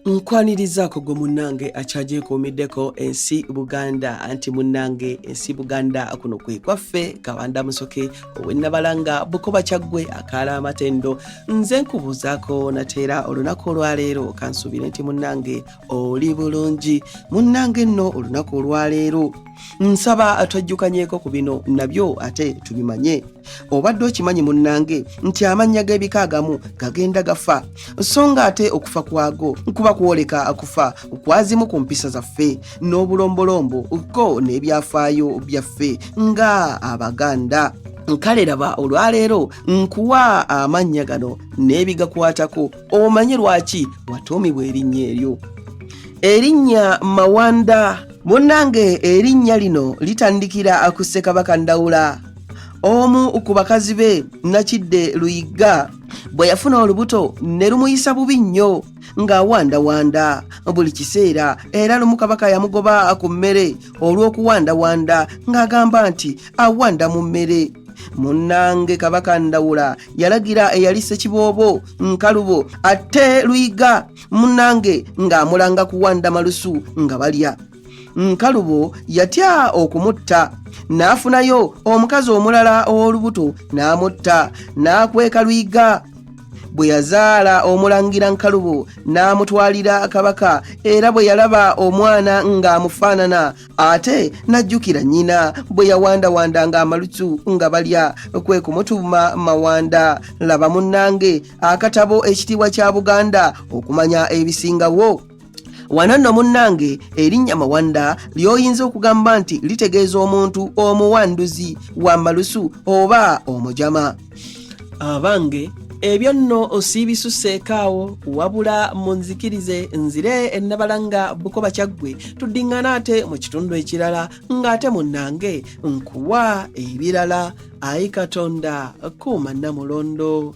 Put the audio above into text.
nkwanirizaako gwe munnange akyagyekuumiddeko ensi buganda anti munnange ensi buganda kuno kwe kwaffe kabanda musoke owennabalanga bukoba kyaggwe akaala amatendo nze nkubuuzaako nateera olunaku olwaleero kansuubire nti munnange oli bulungi munnange nno olunaku olwaleero nsaba twajjukanyeko ku bino nabyo ate tubimanye obadde okimanyi munnange nti amannya g'ebika agamu gagenda gafa so nga ate okufa kwago kuba kwoleka akufa kwazimu ku mpisa zaffe n'obulombolombo ko n'ebyafaayo byaffe nga abaganda kale laba olwaleero nkuwa amannya gano n'ebigakwatako omanye lwaki watuumibwa erinnya eryo erinnya mawanda munnange erinnya lino litandikira ku ssekabaka ndawula omu ku bakazi be nakidde luyigga bwe yafuna olubuto ne lumuyisa bubi nnyo ng'awandawanda buli kiseera era lumu kabaka yamugoba ku mmere olw'okuwandawanda ng'agamba nti awanda mu mmere munnange kabaka ndawula yalagira eyali sekiboobo nkalubo ate luyiga munnange ng'amulanga kuwanda malusu nga balya nkalubo yatya okumutta n'afunayo omukazi omulala ow'olubuto n'amutta n'akweka luyiga bwe yazaala omulangira nkalubo n'amutwalira kabaka era bwe yalaba omwana ng'amufaanana ate n'ajjukira nnyina bwe yawandawanda ng'amalutu nga balya kwe kumutuuma mawanda laba munnange akatabo ekitiibwa kya buganda okumanya ebisingawo wano nno munnange erinnya mawanda ly'oyinza okugamba nti litegeeza omuntu omuwanduzi wa malusu oba omujama abange ebyo nno osiibisuseeko awo wabula munzikirize nzire ennabala nga bukoba kyaggwe tuddiŋŋana ate mu kitundu ekirala ng'ate munnange nkuwa ebirala ayi katonda kuuma nnamulondo